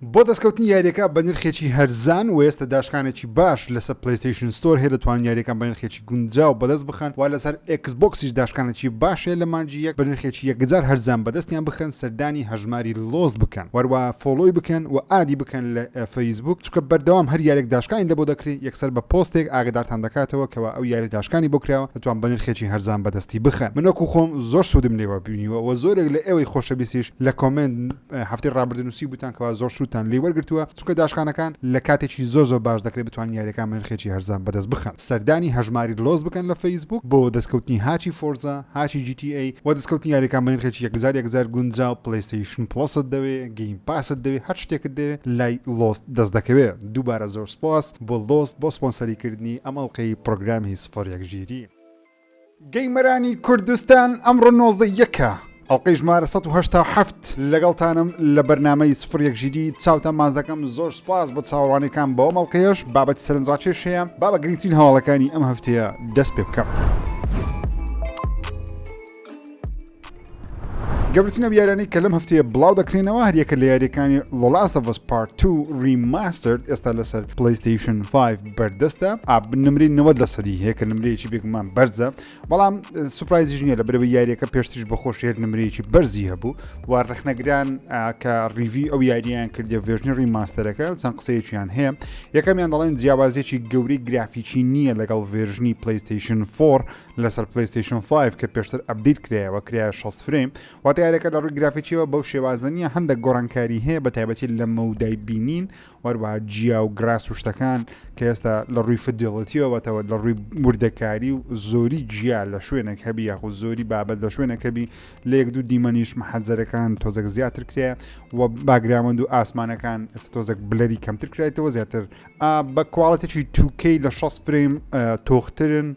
بۆ دەستکەوتنی یاریەکە بە نرخێکی هەرزان وە ئێستا داشکانێکی باش لەسەر پلەیستەیشن ستۆر هەیە دەتوانن یاریەکان بە نرخێکی گونجاو بەدەست بخەن وە لەسەر ئێکس بۆکسیش داشکانێکی باش هەیە لە مانگی یەک بە نرخێکی یەکجار هەرزان بەدەستیان بخەن سەردانی هەژماری لۆست بکەن وە هەروەها فۆڵۆی بکەن وە ئادی بکەن لە فەیسبووک چونکە بەردەوام هەر یارێک داشکانی لەبۆ دەکرێ یەکسەر بە پۆستێک ئاگەدارتان دەکاتەوە کەوا ئەو یارە داشکانی بۆ کراوە دەتوان بە نرخێکی هەرزان بەدەستی بخەن من وەکو خۆم زۆر سودم لێوە بینیوە وە زۆرێک لە ئێوەی خۆشەویستیش لە کۆمێنت هەفتەی ڕابردوو نووسیبووتان کەوا زۆر سوودتان لێی وەرگرتووە، چونکە داشکانەکان لە کاتێکی زۆر زۆر باش دەکرێت بتوانن یاریەکانمان نرخێکی هەرزان بەدەست بخەن. سەردانی هەژماری لۆس بکەن لە فەیسبووک بۆ دەستکەوتنی هاچی فۆرزا، هاچی جی تی ئەی، وە دەستکەوتنی یاریەکان بە نرخێکی یەک هەزار یەک هەزار گونجاو، پلەیستەیشن پڵەست دەوێ، گەیم پاست دەوێ، هەر شتێکت دەوێ لای لۆس دەست دەکەوێ. دووبارە زۆر سوپاس بۆ لۆس بۆ سپۆنسەری کردنی ئەم ئەڵقەی پڕۆگرامی سفر یەک ژیری. گەیمەرانی کوردستان ئەمڕۆ نۆزدە یەکە ئەڵلقەی ژمارە 1970 لەگەڵتانم لە بەرنمەی سفر یەکژیری چاوتان ماز دەکەم زۆر سپاس بۆ چاوەڕوانەکان بەوە مەڵقەیەش بابەتی سەرنجڕاکێش هەیە با بە گرنگترین هەواڵەکانی ئەم هەفتەیە دەست پێ بکەم. گەبرتنە یارانی کە لەم هەفتەیە بڵاو دەکرێنەوە هەریەکە لە یاریەکانی لۆلاستەڤس پارت تو ریماسترد ئێستا لەسەر پلیستیشن 5 بەردەستە ئاب نمری 90 لە سەدی هەیە کە نمرەیەکی بێگومان بەرزە بەڵام سوپایزیش نیە لە برەوە یاریەکە پێشتیش بەخۆش هێر نمرەیەکی بەرزی هەبوو و ڕخنەگران کە ڕیوی ئەو یاریان کردە ڤێژنی ریماستەرەکە چەند قسەیەکیان هەیە یەکەمیان دەڵێن جیاوازێکی گەوری گرافیکی نییە لەگەڵ ڤێژنی پلیستیشن 4 لەسەر پلەیستەیشن فایڤ کە پێشتر ئەپدەیت کرایەوە کرایە شەست فرەیم، واتە یاریەکە لە ڕووی گرافیکیەوە بەو شێوازە نییە هەندێک گۆڕانکاری هەیە بە تایبەتی لە مەودای بینین وەروەها جیا و گراس و شتەکان کە ئێستا لە ڕووی فدیڵەتیەوەتەوە لە ڕووی وردەکاری و زۆری جیا لە شوێنێک هەبی یاخود زۆری بابەت لە شوێنەکەبی لە یەک دوو دیمەنیش محەجەرەکان تۆزەک زیاتر کرێ و باگراوەند و ئاسمانەکان ئێستا تۆزەک بلەری کەمتر کرێتەوە زیاتر بە کوواڵەتێکی توکەی لە 6 فرەیم تۆخترن و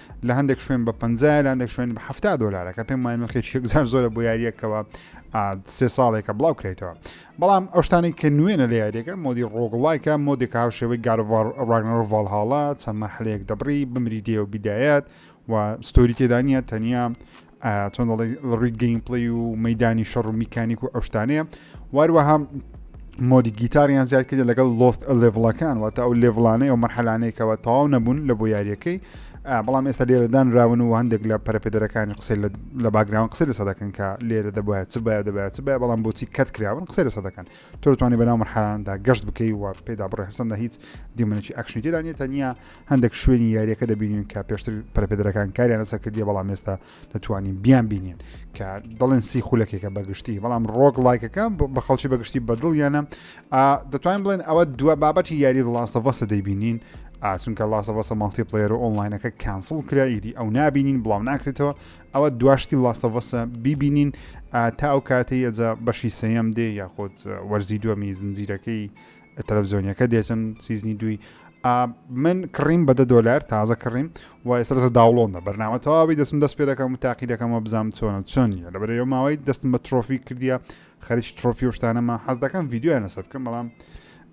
لە هەندێک شوێن بە 50 لە هەندێک شوێن بە 70 دلارە کە پێم وای نرخێکی هزار زۆرە بۆ یاریەکەوە سێ ساڵێکە بڵاو کرێتەوە بەڵام ئەوشتانی کە نوێنە لە یاریەکە مۆدی ڕۆگڵایکە مۆدێک هاوشێوەی گارڤار ڕاگنەڕ ڤالهاڵا چەند مەرحلەیەک دەبڕی بمری دێ و بیدایەت و ستۆری تێدانە تەنیا چۆن دەڵێ لە ڕووی گەیمپڵی و مەدانی شەڕ و میکانیک و ئەوشتانەیە واروەها مۆدی گیتاریان زیاد کردە لەگەڵ لۆست لێڤڵەکان واتە ئەو لێڤڵانەیە و مەرحەلانێکەوە تەواو نەبوون لە بۆ یاریەکەی بەڵام ئێستا لێرەدان راون و هەندێک لە پەرپێدەرەکانی قسەی لە باگراون قسە لەسە دەکەن کە لێرە دەبایە چ باە دەبایە چ باە بەڵام بۆچی کەت کراون قسە لەسە دەکەن تۆتوانی بەناو مرحاندا گەشت بکەی و پێدا بڕێ هەرسەندە هیچ دیمەنێکی ئەکشنی تێدانێت تەنیا هەندێک شوێنی یاریەکە دەبینین کە پێشتر پەرپێدرەکان کاریان لەسەر کردی بەڵام ئێستا دەتوانین بیان بینین کە دەڵێن سی خولەکێکە بەگشتی بەڵام ڕۆک لایکەکە بە خەڵکی بەگشتی بەدڵ یانە دەتوانین بڵێن ئەوە دو بابەتی یاری ڵاسەڤەسە دەیبینین ئاسونکە ڵاسەڤەسە ماڵتی پلێر و ئۆنلاینەکە کانسڵ کرا ئیدی ئەو نبینین بڵاو ناکرێتەوە ئەوە دواشتی ڵاسەڤەسە بیبینین تا ئەو کاتەی ئەجا بەشی سەیەم دێ یاخود وەرزی دووەمی زنجیرەکەی تەلەفزیۆنیەکە دێتن سیزنی دووی ئا من کڕیم بە دە دۆلار تازە کڕیم و ئێستا لەسەر داوڵۆندە بەرنامە تەواوی دەستم دەست پێ دەکەم و تاقی دەکەمەوە بزانم چۆنە چۆن نیە لە بەرەوە ماوەی دەستم بە ترۆفی کردیە خەریکی ترۆفی و شتانەمە حەز دەکەم ڤیددیویان لەسەر بکەم بەڵام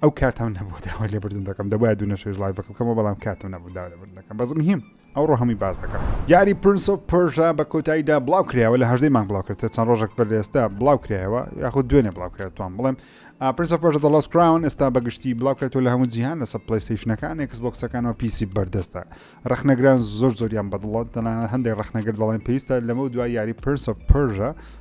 ئەو کاتم نەبوو داوای لێبردن دەکەم دەبای دوو نەشێژ لایڤەکە بکەمەوە بەڵام کاتم نەبوو داوا لێبردن دەکەم بەس مهم ئەوڕۆ هەمووی باس دەکەم. یاری پرنس ئۆف پرژا بە کۆتاییدا بڵاو کرایەوە لە هەژدەی مانگ بڵاو کرد چەند ڕۆژێک بەر ئێستا بڵاو کرایەوە یاخود دوێنێ بڵاو کرێت توان بڵێم پرنس ئۆف پرژا دەڵاس کراون ئێستا بەگشتی بڵاو کرێتەوە لە هەموو جیهان لەسەر پلیستیشنەکان ئێکس بۆکسەکانەوە پیسی بەردەستە ڕخنەگران زۆر زۆریان بەدڵەت تەنانەت هەندێک ڕخنەگر دەڵێن پێویستە لەمە دوای یاری پرنس ئۆف پرژا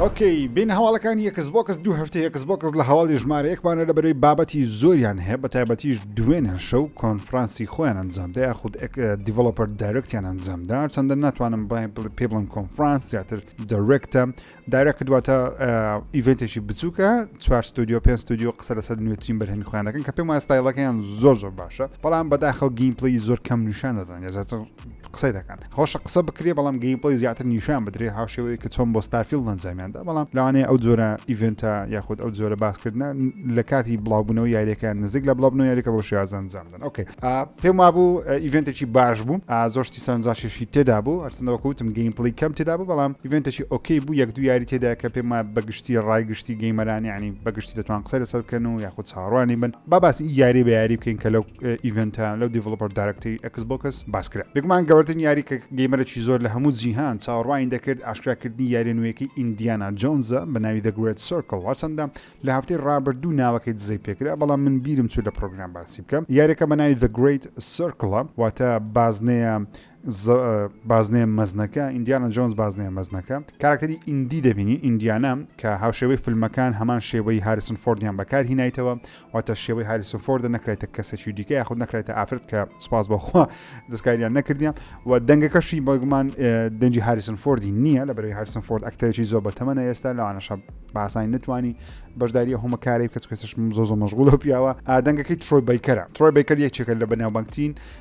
ئۆکەی بین هەواڵەکانی یەکس بۆکس دوو هەفتە یەکس بۆکس لە هەواڵی ژمارە یەکمانە لە بەرەی بابەتی زۆریان هەیە بە تایبەتیش دوێنێ شەو کۆنفرانسی خۆیان ئەنجامدا یاخود دیڤلوپەر دایرکتیان ئەنجامدا چەندە ناتوانم پێ بڵم کۆنفرانس زیاتر دەرێکتە دایرەکە دواتە ئیڤێنتێکی بچووکە چوار ستودیو پێ ستودیو قسە لەسەر نوێترین بەرهەمی خۆیان دەکەن کە پێم وایستایلەکەیان زۆر زۆر باشە بەڵام بەداخەوە گیم پلی زۆر کەم نیشان دەدەن یا زیاتر قسەی دەکەن خۆشە قسە بکرێ بەڵام گەیمپڵی زیاتر نیشان بدرێ هاوشێوەیە کە چۆن بۆ ستارفیل نەنجامیاندا بەڵام لەوانەیە ئەو جۆرە ئیڤنتە یاخود ئەو جۆرە باسکردە لە کاتی بڵاوبوونەوە یاریەکان نزیک لە بڵاوبنەوە یاریکە بۆ شێوازەنجامدن ئۆکەی پێم وابوو ئیڤنتێکی باش بوو زۆشتی سەرنجاشێشی تێدا بوو ئەرسندەوەکوتم گەیمپڵی کەم تێدا بوو بەڵام ئیڤنتێکی ئۆکەی بوو یەک دو یاری تێدا کە پێم وایە بەگشتی ڕای گشتی گەیمەرانی ینی بەگشتی دەتوان قسە لەسەر بکەن و یاخود چاڕوانی بن با باسی یاری بە یاری بکەین کە لەو ئیڤنتە لەو دیڤلوپەر دارکتەی ئەکس بۆکس باسکرا بێگومان گەورترین یاری کە گەیمەرەی زۆر لە هەموو جیهان چاوەڕوانی دەکرد ئاشکراکردنی یاریە نوێیەکەی ئیندیانا جۆنزە بە ناوی The Great Circle هەرچەندە لە هەفتەی ڕابردوو ناوەکەی دزەی پێکرا بەڵام من بیرم چوو لە پرۆگرام باسی بکەم یاریەکە بە ناوی The Great Circle واتە بازنەیە ز بازنەیە مەزنەکە، ئیندیانا جۆنز بازنەیە مەزنەکە، کاراکتەری ئیندی دەبینین، ئیندیانا، کە هاوشێوەی فیلمەکان هەمان شێوەی هاریسن فۆردیان بەکار هینایتەوە، واتە شێوەی هاریسن فۆردە نەکرایتە کەسێکی دیکە یاخود نەکرایتە ئافرەت کە سوپاس بەخوا دەستکاریان نەکردیان و دەنگەکەشی بەگومان دەنجی هاریسن فۆردی نییە لە بەرەوەی هاریسن فۆرد ئەکتەرێکی زۆر بەتەمەە ئێستا لەوانەشە باسانی نتوانی بەشداری هەمە کاری کە کەسش زۆ زۆ مەژغول و پیاوە ئادەنگەکەی ترۆی بیکەرە ترۆی بیکەر یەکێکە لە بەناوبانگترین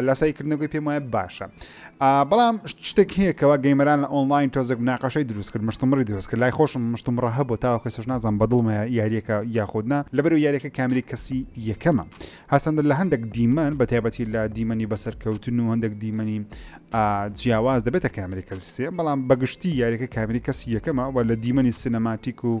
لاسایی کردنە گوی پێم وایە باشە بەڵام شتێک هەیە کەوا گەیمەران لە ئۆنلاین تۆزێک ناقەشەی دروست کرد مشتمڕی دروست کرد لای خۆشم مشتمڕە هەبوو تا کەسش نازان بەدڵمە یاریەکە یاخودنا لەبەر و یاریەکە کامری کەسی یەکەمە هەرچەندە لە هەندێک دیمەن بە تایبەتی لە دیمەنی بەسەرکەوتن و هەندێک دیمەنی جیاواز دەبێتە کامری کەسی سێ بەڵام بەگشتی یاریەکە کامری کەسی یەکەمە و لە دیمەنی سینەماتیک و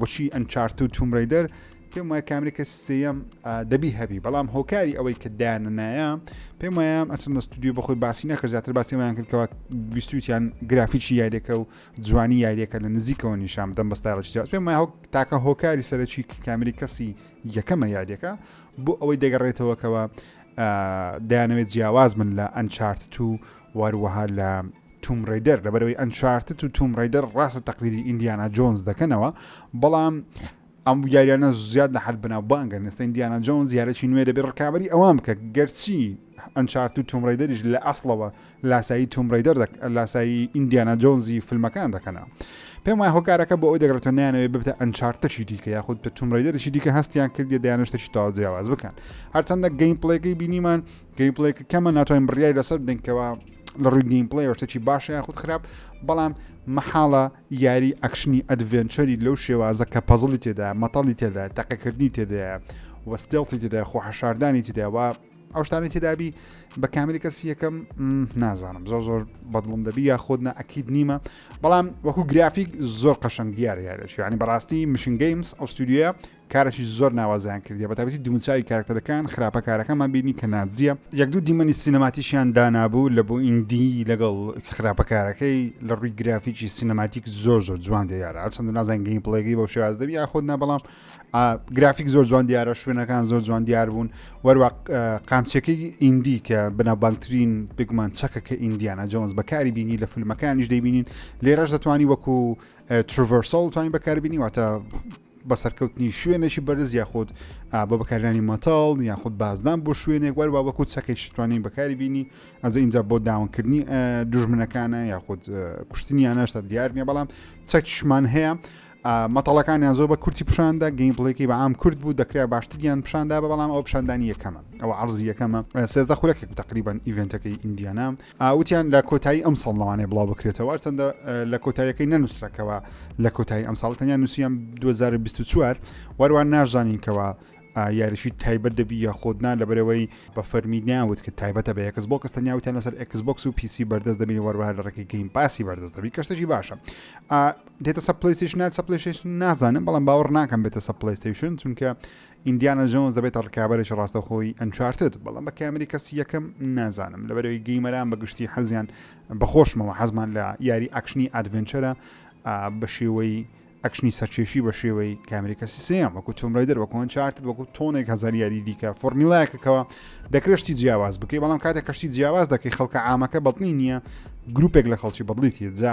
وەکی ئەنچارت و تومرەیدەر پێم وایە کامری کە سێەم دەبی هەبی بەڵام هۆکاری ئەوەی کە دایاننایە پێم وایە ئەچەند ستودیو بەخۆی باسی نەکرد زیاتر باسیمایان کردکەوە گویستویان گرافیکی یاریەکە و جوانی یاریەکە لە نزیکەوە نیشان دەم بەستایڵکی زیات پێم وایە تاکە هۆکاری سەرەکی کامری کەسی یەکەمە یاریەکە بۆ ئەوەی دەگەڕێتەوەکەوە دایانەوێت جیاواز من لە ئەنچارت و واروەها لە توم ڕەیدەر لەبەرەوەی ئەنچارتت و توم ڕەیدەر ڕاستە تەقلیدی ئیندیانا جۆنز دەکەنەوە بەڵام ئەم یاریانە زیاد لە حەد بناو بانگەن ئێستا ئیندیانا جۆنز یارێکی نوێ دەبێت ڕکابی ئەوان بکە گەرچی ئەنچارت و توم ڕەیدەریش لە ئەسڵەوە لاسایی توم ڕەیدەر لاسایی ئیندیانا جۆنزی فیلمەکان دەکەنەوە پێم وای هۆکارەکە بۆ ئەوی دەگرێتەوە نیانەوەی ببتە ئەنچارتەکی دیکە یاخود بە توم ڕیدەرێکی دیکە هەستیان کردی دەیانشتەکی تاوجیاواز بکەن هەرچەندە گەین پڵێگەی بینیمان گەیمپلەیەکە کەمە ناتوانین بڕیاری لەسەر بدەین کەەوە لە ڕووی گەیمپلەی شتێکی باشە یاخود خراپ بەڵام مەحاڵە یاری ئەکشنی ئەدڤێنچەری لەو شێوازە کە پەزڵی تێدا مەتەڵی تێدا تەقەکردنی تێدایە وەستێڵی تێدا خۆ حەشاردانی تێداوە ئەو شتانی تێدابی بە کامیلی کەسی یەکەم نازانم زۆر زۆر بەدڵم دەبی یا خۆدنا ئەکیید نیمە بەڵام وەکو گرافیک زۆر قەشنگ دیارە یارێک ینی بەڕاستی مشنگەیمس ئەوستودیە کارێکی زۆر ناوازەیان کردیە بە تایبەتی دموچاوی کارەکتەرەکان خراپە کارەکانمان بینی کە ناجیە یەک دوو دیمەنی سینەماتیکیان دانابوو لە بۆئیندی لەگەڵ خراپە کارەکەی لە ڕووی گرافیکی سینەماتیک زۆر زۆر جوان دیارە هەرچەندە نازان گەیم پڵێگەی بەو شێواز دەبی یاخود نا بەڵام گرافیک زۆر جوان دیارە شوێنەکان زۆر جوان دیار بوون وەروە قامچەکەی ئیندی کە بەناوبانگترین بگومان چەکە کە ئیندیانە جۆنز بەکاری بینی لە فیلمەکانیش دەیبینین لێرەش دەتوانانی وەکو ترڤەرسەڵ توانین بەکاربینی واتە بە سەرکەوتنی شوێنێکی بەرز یاخود بە بەکارانی مەتاڵ یاخود بازدان بۆ شوێنێک وەر با وەکو چەکێکی توانین بەکاری بینی ئەزە اینجا بۆ داونکردنی دژمنەکانە یاخود کوشتنیانەش تا دیار نیە بەڵام چەکشمان هەیە مەتەڵەکانیان زۆر بە کورتی پیشاندا گەین بڵێکی بە ئام کورد بوو دەکرا باشتریان پیشاندا بە بەڵام ئەو پیشاندانی یەکەمە ئەو عرضزی یەکەمە سێزدە خولەکێک تقریبان ئیڤنتەکەی ئیندیانا وتیان لە کۆتایی ئەمساڵ لەوانەیە بڵاوبکرێتەوە، هەرچەندە لە کۆتاییەکەی نەنووسرا کەوا لە کۆتایی ئەمساڵ، تەنیا نووسیان 2024 و هەروەها نازانین کەوا یاریشی تایبەت دەبی یا خۆتنا لەبەرەوەی بە فەرمی ناوت کە تایبەتە بە یەکس بۆکس تەنیا وتیان لەسەر ئەکس بۆکس و پیسی بەردەست دەبی وەروها لە ڕێکی گرین پاسی بەردەست دەبی کەشتەکی باشە دێتە سە پلیسیش نات سە پلیش نازانم بەڵام باوەڕ ناکەم بێتە سە پلیستیشن چونکە ئیندیانا جۆنز دەبێتە ڕکابەرێکی ڕاستەوخۆی ئەنچارتد، بەڵام بە کامری کەسی یەکەم نازانم، لەبەرئەوەی گەیمەران بە گشتی حەزیان بە خۆشمەوە حەزمان لە یاری ئەکشنی ئادڤێنچەرە بە شێوەی ئەکشنی سەرکێشی بە شێوەی کامریکەسی سێم وەکو تۆم ڕێدەر وەکوان چارتت وەکو تۆنێک هەزار یاری دیکە فۆرمیلایەکەکەوە دەکرێشتی جیاواز بکەی بەڵام کاتێک کەشتی جیاواز دەکەی خەڵکە ئامەکە بەڵنی نییە گروپێک لە خەڵکی بەدڵیتی جا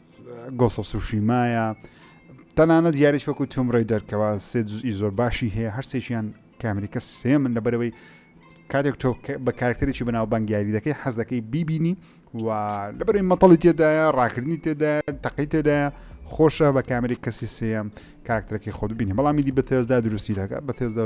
گۆس ئۆف سوشیمایە تەنانەت یاریش وەکو توم ڕێ دەرکەوە سێ جزئی زۆر باشی هەیە هەر سێکیان کامریکە سێ من لە بەرەوەی کاتێک تۆ بە کارکتەرێکی بەناو بەنگیاری دەکەی حەز دەکەی بیبینی و لە بەرەوەی مەتەڵی تێدایە ڕاکردنی تێدا تەقی تێدایە خۆشە بە کامری کەسی سێم کارکتەرەکەی خۆ ببینی بەڵامی دی بە تێزدا دروستی دەکە بە تێزدا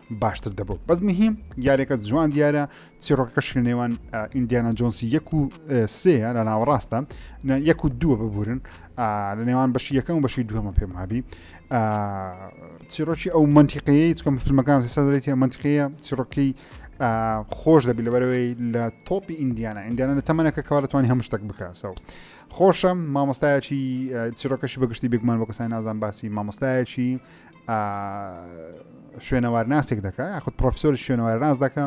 باشتر دەبوو بەس مهیم یاریەکە جوان دیارە چیڕۆکەکە شل نێوان ئیندیانە جۆنسی یەک و سێ لە ناوەڕاستە یەک و دووە ببورن لە نێوان بەشی یەکەم و بەشی دووەمە پێم هابی چیرۆکی ئەو منتیقەیە چکەم فیلمەکان سەدەێتی منتیقەیە چیڕۆکی خۆش دەبی لەبەرەوەی لە تۆپی ئیندیانە ئیندیانە لە تەمەەکە کەوا دەتوانانی هەموو شتێک بکەسەوە خۆشم مامۆستایەکی چیرۆکەشی بەگشتی بگمان بۆ کەسای نازان باسی مامۆستایەکی شوێنەوارناسێک دەکە یاخود پرۆفسۆری شوێنەوارناس دەکە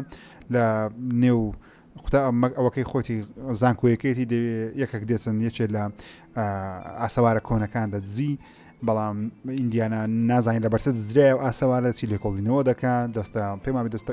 لە نێو خدا ئەمەک ئەوەکەی خۆتی زانکۆیەکەیەتی یەکەک دێتن یەکێ لە ئاسەوارە کۆنەکان دەدزی بەڵام ئیندیانا نازانین لە بەرسە زرای و ئاسەوارەتی لێکۆڵینەوە دەکات دەستە پێمابی دەستە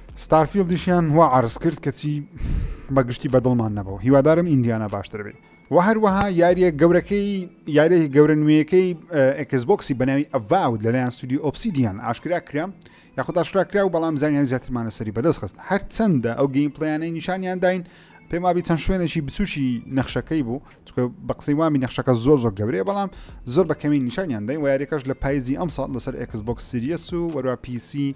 ستارفیڵدیشیان وا عەرزکرد کەچی بەگشتی بەدڵمان نەبوو هیوادارم ئیندیانا باشتر بێت و هەروەها یاریە گەورەکەی یاریەکی گەورە نوێیەکەی ئەکسبکسی بەناوی ئەڤاود لەلایەن سودی ئۆپسیدیان ئاشکرا کرام یاخود ئاشکرا کرا و بەڵام زانیان زیاترمانە سەری بەدەست خست هەر چەندە ئەو گەیم پلیانەی نیشانیان داین پێم وابی چەند شوێنێکی بچوکی نەخشەکەی بوو چکە بە قسەی وامی نەخشەکە زۆر زۆر گەورەیە بەڵام زۆر بە کەمی نیشانیان دەین وارێکەش لە پایزی ئەم ساڵ لەسەر ئەکسبک سریەس و وەرا پیسی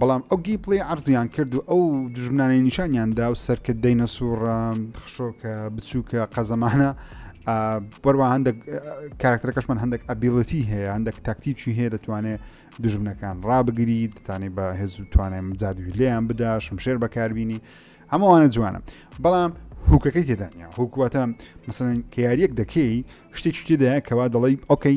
بەڵام ئەو گەی پڵەی عەرزیان کرد و ئەو دژمنانەی نیشانیان دا و سەرکرد دەینە سوڕە خشۆکە بچووکە قەزەمانە بەروە هەندێک کارکتەرەکەشمان هەندێک ئەبیڵەتی هەیە هەندێک تاکتیکی هەیە دەتوانێت دژمنەکان ڕابگری دەتانی بە هێز و توانێم جادوی لێیان بداشم شێر بەکاربیینی هەمووانە جوانە بەڵام هوکەکەی تێدانە هوکواتە مەسەن کە یاریەک دەکەی شتێکی تێدایە کەوا دەڵی ئۆکەی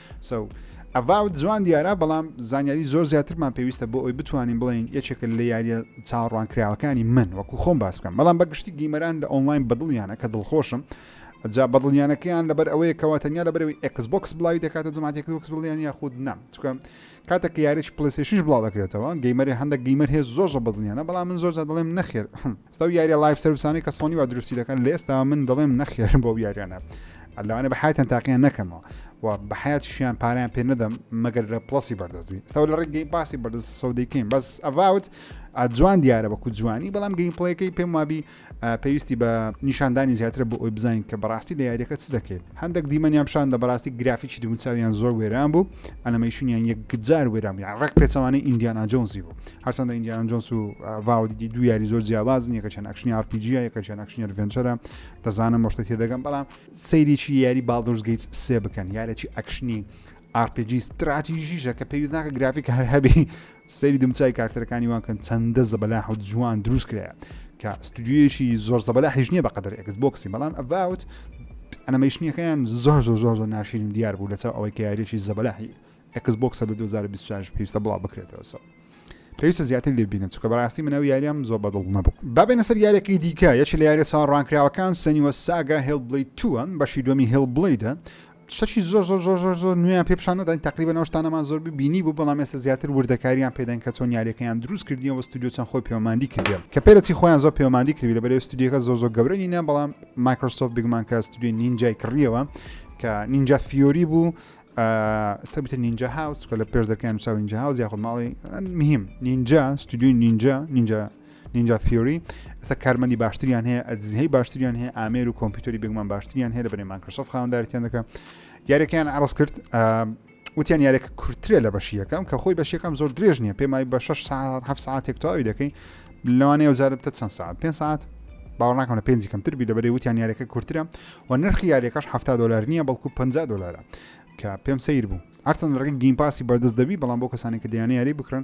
سو ئەڤاوت جوان دیارە بەڵام زانیاری زۆر زیاترمان پێویستە بۆ ئەوی بتوانین بڵین یەکێکە لە یاریە چاڕوان کراوەکانی من وەکو خۆم باس بکەم بەڵام بەگشتی گیمەران لە ئۆنلاین بەدڵیانە کە دڵخۆشم جا بەدڵیانەکەیان لەبەر ئەوەیە کەوا تەنیا لەبەرەوەی ئەکسبکس بڵاوی دەکاتە جماعتێککس بڵیان یاخود نام چکە کاتێک کە یاریەکی پلەیستەیشنیش بڵاو ئەکرێتەوە گەیمەری هەندێک گەیمەر هەیە زۆر زۆر بەدڵنیانە بەڵام من زۆر جار دەڵێم نەخێر ئێستا و یاریە لایڤ سرویسانەی کە سۆنی وا دروستی دەکەن لە ئێستا من دەڵێم نەخێر بۆ ئەو یاریانە لەوانە بە حیاتیان تاقییان نەکەمەوە و بە حیاتیشیان پاریان پێ نەدەم مەگەر لە پڵسی بەردەستبی ئێستا لە ڕێک گەیم پاسی بەردەست سەودەیکەین بەس ئەڤاوت جوان دیارە بەکو جوانی بەڵام گەیم پڵەکەی پێم وابی پێویستی بە نیشاندانی زیاتر بۆ ئەوی بزانین کە بەڕاستی لە یاریەکە چ دەکەیت هەندێک دیمەنیان پیشان دە بەڕاستی گرافیکی دونچویان زۆر وێران بوو ئەلمەیشنیان یەکجار وێران یان ڕێک پێچوانەی ئیندیانا جۆنسی بوو هەرچەندە ئیندیانا جۆنس و ڤاودی دو یاری زۆر جیاوازن یەکەچەند ئەکشنی ئارپیجیە یەکەچەند ئەکشنی ڤنچەرە دەزانم مشتە تێدەگەم بەڵام سەیریی یاری باڵدۆرزگەیت سێ بکەن یارێکی ئەکشنی ئارپیجی ستراتیژیشە کە پێویست ناکە گرافیک هەر هەبی سەیری دمچای کارتەرەکانی وانکەن چەندە زەبەلا حوت جوان دروست کرایە کە ستودیویەکی زۆر زەبەلا هیچ نییە بە قەدەر ئەکس بۆکسی بەڵام ئەڤوت ئەنەمەیشنیەکەیان زۆر زۆر زۆر زۆر ناشرین دیار بوو لەچاو ئەوەی کە یاریێکی زەبەلاحی ئەکس بۆکسە لە 2024 پێویستە بڵاو بکرێتەوەسەوە پێویستە زیاتر لێ بینم چکە بەڕاستی منەوە یاریان زۆر بەدڵ نەبوو بابێنە سەر یارێکی دیکە یەکی لە یارە چاوەڕوانکراوەکان سەنیوە ساگە هێڵ بڵی تووە بەشی دومی هێڵ بڵیدە شتەکی زۆر زۆر زۆر زۆر زۆر نوێیان پێ پیشان نەداین تقریبا ئەو شتانەمان زۆر ببینی بوو بەڵام ئێستا زیاتر وردەکاریان پێدەن کە چۆن یاریەکەیان دروست کردیەوە بە ستودیو چەند خۆی پەیوەماندی کردێن کە پێرەچی خۆیان زۆر پەیوەماندی کردی لە بەرێ ستودیەکە زۆر زۆر گەورە نینە بەڵام مایکرۆسۆف بگمان کە ستودیو نینجای کڕیەوە کە نینجا فیۆری بوو سەبتە نینجا هاوس کە لە پێش دەکەیان ساوینجا هاوز یاخود ماڵی مهم نینجا ستودیو نینجا نینجا نینجا تیۆری ئەستا کارمەندی باشتریان هەیە ئەزیهی باشتریان هەیە ئامێر و کۆمپیوتەری بێگومان باشتریان هەیە لە بەێ ماکرسۆف خاوەندارتیان دەکە یارەکەیان عرض کرد وتیان یارێکە کورتترە لە بەشیەکەم کە خۆی بەشیەکەم زۆر درێژ نییە پێمای بە 6 ساعت ه ساعتێک تاوی دەکەین لەوانەیە وزارتە چەند ساعت پێ ساعت باوەڕناکەم لە پێنج کەمتر بی دەبێ وتیان یارەکە کورتترە و نرخی یارەکەش ه دلار نییە بەڵکو 50 دلارە کە پێم سیر بوو هەرچەند ڕگە گیم پاسی بەردەست دەبی بەڵام بۆ کەسانی کە دیانە یاری بکرن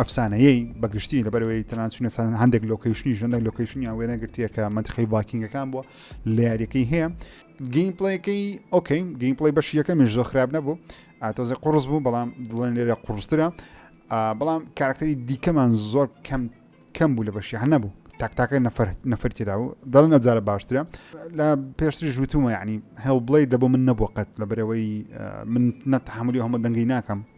ئەفسانەیەی بە گشتی لەبەرەوەی تەنانچونە سان هەندێک لۆکیشنی ژەندەک لۆکیشنیان وێنە گرتیەکە منتخی ڤاکینگەکان بووە لە یاریەکەی هەیە گەیم پڵەکەی ئۆکەین گەیم پڵی بەش یەکەمیش زۆ خراپ نەبوو ئاتۆزە قڕز بوو بەڵام دڵێن لێرە قڕسترە بەڵام کارکتەری دیکەمان زۆر کەم کەم بوو لە بەشی هە نەبوو تاکتاکە نەفر نەفر تێدا و دەڵ نەجارە باشترە لە پێشتری ژوتومە ینی هەڵ بڵێ دەبوو من نەبوو قەت لە بەرەوەی من نەتحملی هەمە دەنگی ناکەم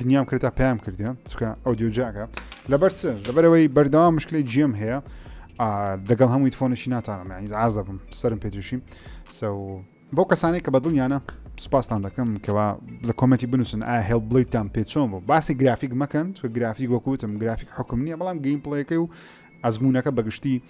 دنیام کرد تا پێیان کردێ چکە ئەو دیۆجاکە لەبەر چ لەبەرەوەی بەردەوام مشکلی جێم هەیە دەگەڵ هەمووی تفۆنشی ناتانم یعنی ئاز دەبم سرم پێتوشی سە بۆ کەسانی کە بەدڵیانە سپاستان دەکەم کەوا لە کۆمەتی بنووسن ئایا هێڵ بڵیتان پێچۆن بۆ باسی گرافیک مەکەن چکە گرافیک وەکوتم گرافیک حکم نییە بەڵام گەیم پڵەکەی و ئەزموونەکە بە گشتی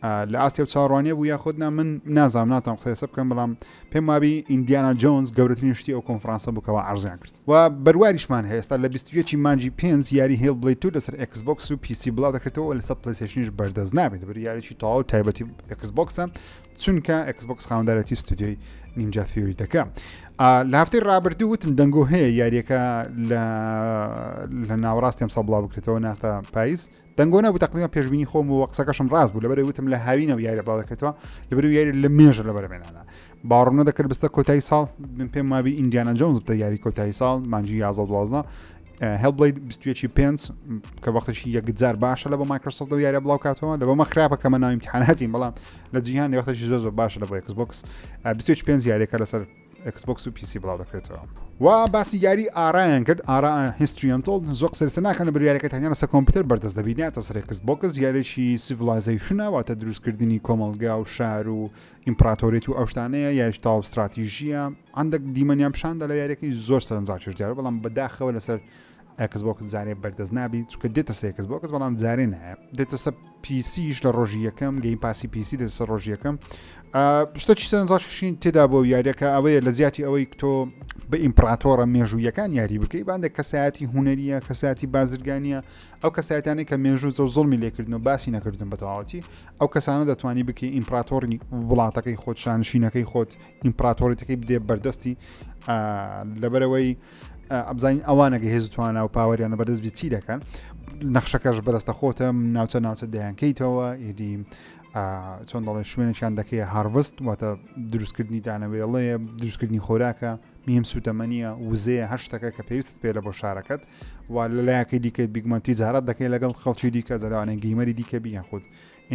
لە ئاستی و چاڕوانێ بوو یاخود نا من نازام ناتان قسەسە بکەم بەڵام پێم وابی ئیندیانا جۆنز گەورەترین شتی ئەو کۆنفرانسە بکەوە ئارزیان کرد و بەروواریشمان هێستا لە 21 مانجی پێنج یاری هێڵ بڵی تو لەسەر ئەکسبکس و پیسی بڵا دەکرێتەوە لەسەر پلیسشنیش بەردەست نابێت بەر یاریی تەواو تایبەتی ئەکسبکسە چونکە ئەکسبکس خاندارەتی ستودیۆی نینجا فیوری دەکە لە هەفتەی رابرردوو وتم دەنگۆ هەیە یاریەکە لە ناوەڕاستیم سەبڵا بکرێتەوە ناستا پاییز دەنگۆ نەبوو تقریبا پێشبینی خۆم و قسەکەشم ڕاست بوو لەبەر وتم لە هاوینە و یاری بڵاوکەێتەوە لەبەر یاری لە مێژە لە بەرمێنانە باڕۆنە دەکرد بستە کۆتایی ساڵ من پێم مابی ئینجیانە جۆنز بتە یاری کۆتایی ساڵ مانجی یازە دوازە هەڵبڵیت 21 پێنج کە وەختشی یەکجار باشە لە بە مایکرۆسۆفت و یارە بڵاو کاتەوە لە بەمە خراپە کە مە ناویمتحاناتی بەڵام لە جیهان وەختشی زۆ زۆر باشە لە بۆ کس بکس 25 یارێکە لەسەر ئێکسبۆکس و پیسی بڵاو دەکرێتەوە و باسی یاری ئارایان کرد ئارا هیستریانتۆل زۆ قسەرسە ناکەن بە یاریەکە تەنیا لەسە کۆمپیوتەر بەردەست دەبینە تەس رێکس بۆکس یاێکی سیڤلایزەی شناواتە دروستکردنی کۆمەلگا و شار و ئیمپراتۆریت و ئەوشتانەیە یاش تاو استراتیژیە ئەندەک دیمەنیان پیششاندا لە یاریەکەی زۆر سەرنجڕاکێش دیارە بەڵام بەداخەوە لەسەر ئێکس بۆکس جارێ بەردەست نابی چکە دێتە سێکس بۆکس بەڵام جارێ نایە دێتە سە پیسیش لە ڕۆژی یەکەم گەی پاسی پیسی دێتە سەر ڕۆژی یەکەم شتە چی سەرنجاشین تێدا بۆ یاریەکە ئەوەیە لە زیاتی ئەوەی تۆ بە ئیمپراتۆرە مێژوویەکان یاری بکەی باندێک کەسایەتی هوەریە کەساتی بازرگانیە ئەو کەسایەتانی کە مێژوو زە زڵمی لێکردن و باسی نەکردن بەتەواوەتی ئەو کەسانە دەتوانی بکەی ئیمپراتۆری وڵاتەکەی خۆت شانشینەکەی خۆت ئیمپراتۆریتەکەی بدێ بەردەستی لەبەرەوەی ئەبزانین ئەوانە گە هێز توانە و پاوەریانە بەردەست بچی دەکەن نەخشەکەش بەرەستە خۆتە ناوچە ناوچە دەیانکەیتەوە ئیدی چۆن دەڵێن شوێنێکیان دەکەی هاروست واتە دروستکردنی دانەوێڵەیە دروستکردنی خۆراکە میم سوتەمەنیە وزەیە هەر شتەکە کە پێویست پێ لە بۆ شارەکەت و لە لایەکەی دیکە بیگمەنتی جارات دەکەی لەگەڵ خەڵکی دیکە زەلوانێن گەیمەری دیکە بیان خۆت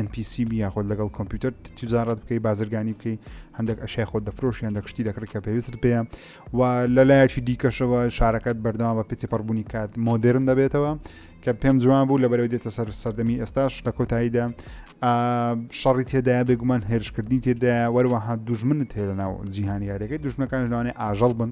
NPCB یاخود لەگەڵ کۆمپیوتەر تجارت بکەی بازرگانی بکەی هەندێک ئەشای خۆ دەفرۆش هەندێک شتی دەکڕی کە پێویست پێە و لە لایەکی دیکەشەوە شارەکەت بەردەوام بە پێتی پڕبوونی کات مۆدررن دەبێتەوە کە پێم جوان بوو لە بەرەوە دێتە سەر سەردەمی ئێستاش لە کۆتاییدا شەڕی تێدایە بێگومان هێرشکردنی تێدایە وەروەها دوژمنت هێرە ناو جیهانیارەکەی دوژمەکان لەوانێ ئاژەڵ بن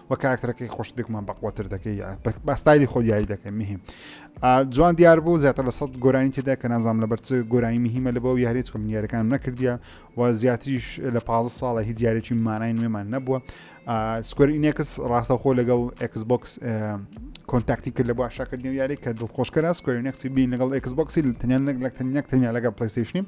وە کاراکتەرەکەی خۆشت بێکمان بەقوەتر دەکەی بە ستایلی خۆ دیاری دەکەی مهم جوان دیار بوو زیاتر لە سەد گۆرانی تێدا کە نازام لە بەرچ گۆرانی مهمە لە بۆ یاریت کۆم یاریەکان نەکردیە و زیاتریش لە پ ساڵە هی دیارێکی مانای نوێمان نەبووە سکۆرینێکس ڕاستەخۆ لەگەڵ ئەکس بۆکس کۆنتاکتی کرد لە بۆ عشاکردنی یاری کە دڵخۆشکەرە سکۆرینێکسی بین لەگەڵ ئەکس بۆکسی تەنیان نەک لە تەنیەک تەنیا لەگەڵ پلیسیشنی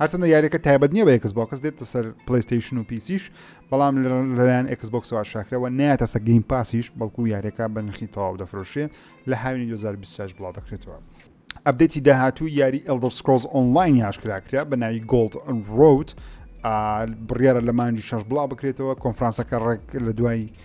هەرچەندە یاریەکە تایبەت نییە بە ئێکس بۆکس دێتە سەر پلیستیشن و پیسیش بەڵام لەلایەن ئێکس بۆکسەوە شاکرەوە نایەتە سە گەیم پاسیش بەڵکو یاریەکە بەنرخی تەواو دەفرۆشێ لە هاوینی 2026 بڵاو دەکرێتەوە. ئەبدەتی داهاتوو یاری ئەلدر سکۆز ئۆنلاین یاشکراکرا بە ناوی گۆلد ڕوت بڕیاە لە مانجی شەش بڵاو بکرێتەوە کۆنفرانسەکە ڕێک لە دوای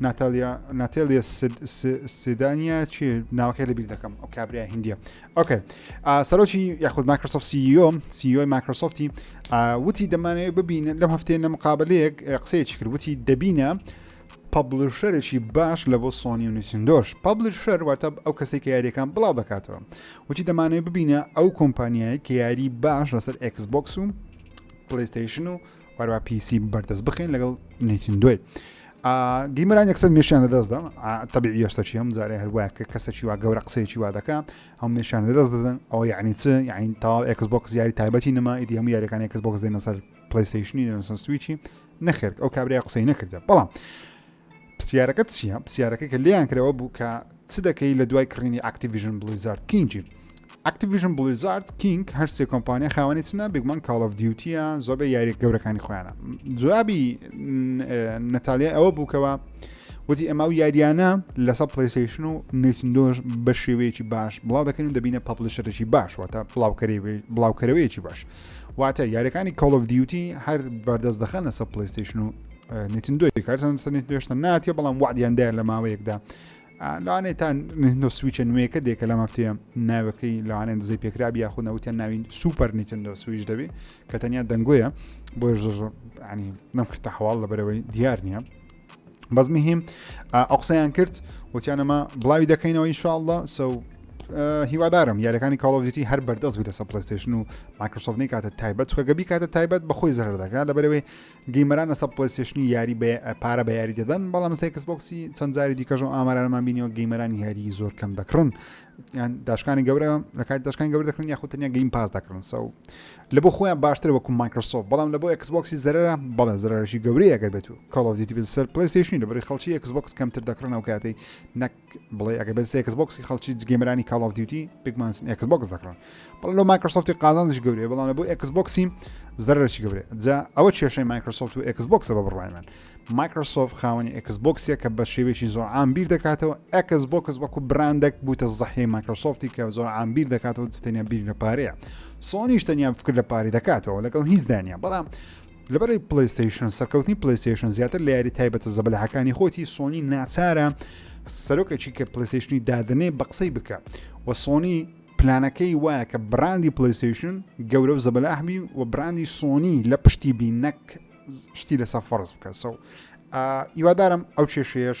ناتالیا ناتێلیە سیدانیا چی ناوەکەی لەبییر دەکەم ئەو کابرای هندیە ئۆکە سەرۆکی یاخود مایکرۆسۆف سیۆ سیۆی مایکرۆسۆفتی وتی دەمانەیە ببینن لەم هەفتێ نە مقابلەیەک قسەیەکی کرد وتی دەبینە پبلشەرێکی باش لە بۆ سۆنی و نوچندۆش پبلشەر واتە ئەو کەسێک کە یاریەکان بڵاو دەکاتەوە وتی دەمانەوە ببینە ئەو کۆمپانیایە کە یاری باش لەسەر ئەکسبکس و پلیستیشن و واروا پیسی بەردەست بخین لەگەڵ نیتیندۆی گیمران یەکسەر مێشیان لە دەست دەم تەبی یۆستەچی هەم زارێ هەروە کە کەسەکی وا گەورە قسەیەکی وا دەکە هەم مێشیان لە دەست دەدەن ئەو یعنی چ یعنی تاو ئەکس بۆکس یاری تایبەتی نما ئیدی هەموو یاریەکان ئەکس بۆکس دێنە سەر پلیستیشنی لەسەر سویچی نەخێر ئەو کابرای قسەی نەکردە بەڵام پسیارەکەت چییە پسیارەکە کە لێیان کرەوە بوو کە چ دەکەی لە دوای کڕینی ئاکتیڤژن بلیزارد کینگی ئاکتیڤژن بلیزارد کینگ هەرسێ کۆمپانیا خاوەنی چنە بگومان کاڵ of دیوتیە زۆبە یاریە گەورەکانی خۆیانە جوابی نەتالیا ئەوە بووکەوە وتی ئەما و یاریانە لەسە پلیسیشن و نیسندۆش بە شێوەیەکی باش بڵاو دەکەین دەبینە پاپلیشەرێکی باش واتە بڵاوکەری بڵاوکەرەوەیەکی باش واتە یاریەکانی کاڵ of دیوتی هەر بەردەست دەخەنە سە پلیسیشن و نتندۆی کارزان سەر نتندۆ هێشتا ناتیە بەڵام وعدیان دایە لە ماوەیەکدا لەوانێت تا نتندۆ سویچە نوێیەکە دێکە لەم هەفتەیە ناوەکەی لەوانێن دزەی پێکرابی یاخود نەوتیان ناوین سوپەر نتندۆ سویش دەبێ کە تەنیا دەنگۆیە بۆ زۆر زۆر ینی نەم کردتە حواڵ لە بەرەوەی دیار نییە بەس مهم ئەو قسەیان کرد وتیانەمە بڵاوی دەکەینەوە ئینشاءله سە هیوادارم یارەکانی کاڵۆڤیتی هەر بەردەست بێتە سە پلستێشن و مایکرۆسۆفنی کاتە تایبەت چکە گەبی کاتە تایبەت بەخۆی زەر دەکات لە بەرەوەی گەیمەرانە سەد پلەیستێشنی یاری بە پارە بە یاری دەدەن بەڵام سێ کەسبکسی چەند جاری دیکەژۆ ئامارانەمان بینیەوە گەیمەران یاری زۆر کەم دەکڕن یان داشکانی گەورە لە کات داشکان گەور دەکرن یاخوتنیا گەیم پاس دەکرن سەو لە بۆ خۆیان باشتر وەکو مایکرۆسۆف بەڵام لە بۆ ئەکسبکسی زەرە بەڵە زرارشی گەورەی ئەگەر بێت و کاڵۆزیتی سەر پلیستیشنی لە بری خەڵکی ئەکسبکس کەمتر دەکڕنەوە کاتی نەک بڵێ ئەگەر بەس ئێکس بۆکسی خەڵکی جگەمرانی کاڵ ئۆف دیوتی بگمانسن ئێکس بۆکس دەکڕن بەڵ لۆ مایکرۆسۆفتی قازانش گەورەیە بەڵام لە بۆ ئێکس بۆکسی زەرەرشی گەورێ جا ئەوە کێشەی مایکرۆسۆفت و ئێکس بۆکسە بە بڕای من مایکرۆسۆفت خاوەنی ئێکس بۆکسە کە بە شێوێکی زۆر عام بیر دەکاتەوە ئەکس بۆکس وەکو براندێک بووتە زەحی مایکرۆسۆفتی کە زۆر عام بیر دەکاتەوە تەنیا بیر لە پارەیە سۆنیش تەنیا فکر لە پاری دەکاتەوە لەگەڵ هیچ دانیا بەڵام لەبارەی پلەیستەیشن، سەرکەوتنی پلەیستەیشن زیاتر لە یاری تایبەتە زەبەلاحەکانی خۆتی، سۆنی ناچارە سەرۆکەکی کە پلەیستەیشنی دادەنێ بە قسەی بکە و سۆنی پلانەکەی وایە کە براندی پلەیستەیشن گەورە و زەبەلاح بی و براندی سۆنی لە پشتی بی نەک شتی لەسەر فەرز بکە سەو ئیوادارم ئەو کێشەیەش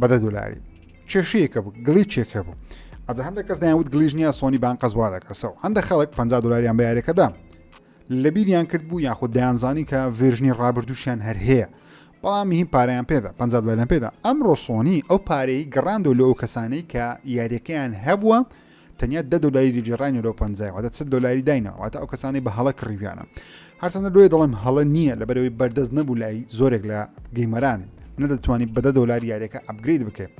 بە دە دلاری کێشەیە کە بوو گڵی چێکە بوو ئەجا هەندە کەس دایوت گلیژ نییە سۆنی بان قەزوا دەکەسەوە هەندە خەڵک 50 دلاریان بە یارەکەدا لە بیریان کرد بوو یاخود دەیانزانی کە ڤێژنی ڕابردووشیان هەر هەیە بەڵام هی پاریان پێدا 50 دلار پێدا ئەمڕۆ سۆنی ئەو پارەی گەڕاندۆ لە ئەو کەسانەی کە یاریەکەیان هەبووە تەنیا دە دۆلاری لێگێڕاینە لەو پەنجای واتە چل دۆلاری داینە واتە ئەو کەسانی بە هەڵە کڕیویانە هەرچەندە لۆی دەڵێم هەڵە نییە لە بەرەوەی بەردەست نەبوو لای زۆرێک لە گەیمەران نەدەتوانی بەدە دۆلار یاریەکە ئەپگرید بکەێت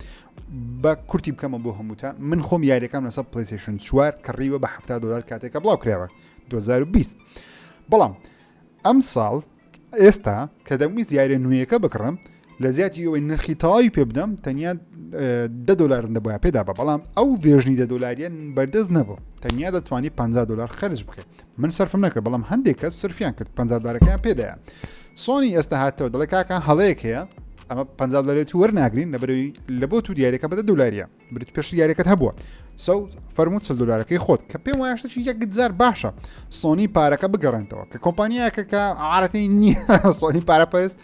بە کورتی بکەمە بۆ هەمووتە من خۆم یاریەکەم لەسەر پلیسیشن چوار کڕیوە بە ه دلار کاتێکە بڵاو کراوە 2020 بەڵام ئەم ساڵ ئێستا کە دەمویست یارە نوێیەکە بکڕم لە زیاتی ئەوەی نرخی تەواوی پێ بدەم تەنیا دە دلارم دەبە پێدا بە بەڵام ئەو ڤێژنی دە دلاریان بەردەست نەبوو تەنیا دەتوانانی 50 دلار خرج بکەیت من سرفم نەکرد بەڵام هەندێک کەس سرفیان کرد 50 دارەکەیان پێدایە سۆنی ئێستا هاتەوە دەڵێ کاکە هەڵەیەک هەیە ئەمە 50 دلارێت وەرناگرین لە بەرەوەی لە بۆ تو دیارەکە بەدە دولاریە بریت پێشتر یاریەکەت هەبووە سەو فەرموو چل دلارەکەی خۆت کە پێم وایشتە چی یەکجار باشە سۆنی پارەکە بگەڕێنتەوە کە کۆمپانیایەکە کە عادەتی نییە سۆنی پارە پێست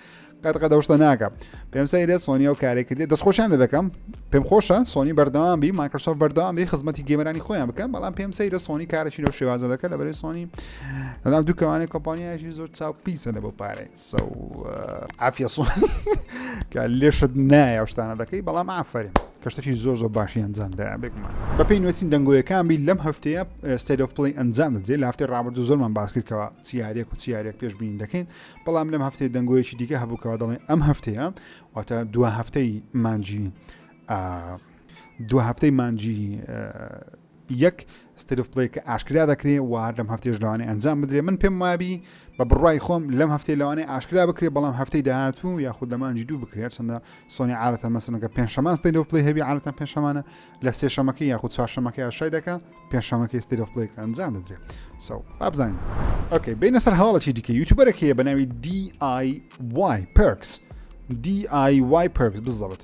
قەت قەدەشتە ناکە پێم سەیرێت سۆنی و کارێک کردێت دەستخۆشیان لە دەکەم پێم خۆشە سۆنی بەردەوام بی مایکرۆسۆف بەردەوام بی خزمەتی گەمەرانی خۆیان بکەم بەڵام پێم سەیرە سۆنی کارەی لەو شێوازە دەکە لە بەری سۆنی لەناو دووکەوانێک کۆمپانیایشی زۆر چاو پیسە لە بۆ پارەی قسە و عافیە سوانی کە لێشت نایە و شتانە دەکەی بەڵام ئافرین کە شتەکی زۆر زۆر باشی ئەنجامدا بێگومان بەپی نوێتین دەنگۆیەکان بی لەم هەفتەیە ستیت ئۆف پلی ئەنجام دەدرێت لە هەفتەی ڕابردوو زۆرمان باسکردکەوە چیارێک و چیارێک پێش بینین دەکەین بەڵام لەم هەفتەیە دەنگۆیەکی دیکە هەبووکەوە دەڵێن ئەم هەفتەیە واتە دو هەفتەی مانجی دو هەفتەی مانجی یەک State of Play کە ئاشکرا دەکرێ و هەر لەم هەفتەیەش لەوانەیە ئەنجام بدرێ من پێم وایە بی بە بڕای خۆم لەم هەفتەی لەوانەیە ئاشکرا بکرێ بەڵام هەفتەی داهاتوو یاخود لە مانجی دوو بکرێت چەندە سۆنی عادەتەن مەسەنەکە پێنجشەمان State of Play هەبی عادەتەن پێنجشەمانە لە سێشەمەکەی یاخود چوارشەمەکەی ئاشای دەکا پێنجشەمەکەی State of Play کە ئەنجام دەدرێت سو بابزانین ئۆکەی بینە سەر هەواڵەکی دیکە یوتیوبەرێک هەیە بە ناوی DIY Perks DIY Perks بزەوت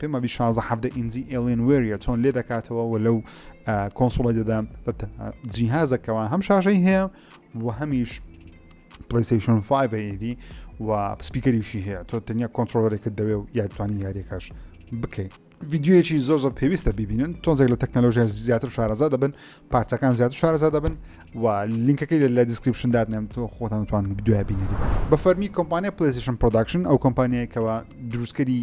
پێم وابی شازدە حەڤدە ئینجی ئێلێن وێریە چۆن لێ دەکاتەوە و لەو کۆنسوڵی دەدا جیهازەکەەوە هەم شاشەی هەیە و هەمیش پلیسیشن 5 ئیدی و پسپیکەریشی هەیە تۆ تەنیا کۆنتترۆلەرێکت دەوێ و یادتوانی یاریەکەش بکەیت ڤیددیوەکی زۆ زۆر پێویستە ببینن تۆزێک لە تەکنەلۆژیا زیاتر شارەزا دەبن پارچەکان زیاتر شارەزا دەبن و لینکەکەی لە دیسکرپشن دادنێن تۆ خۆتانتوان دوای بینەری بە فەرمی کۆمپانیا پلیسیشن پرۆداکشن ئەو کۆمپانیایکەوە دروستکەری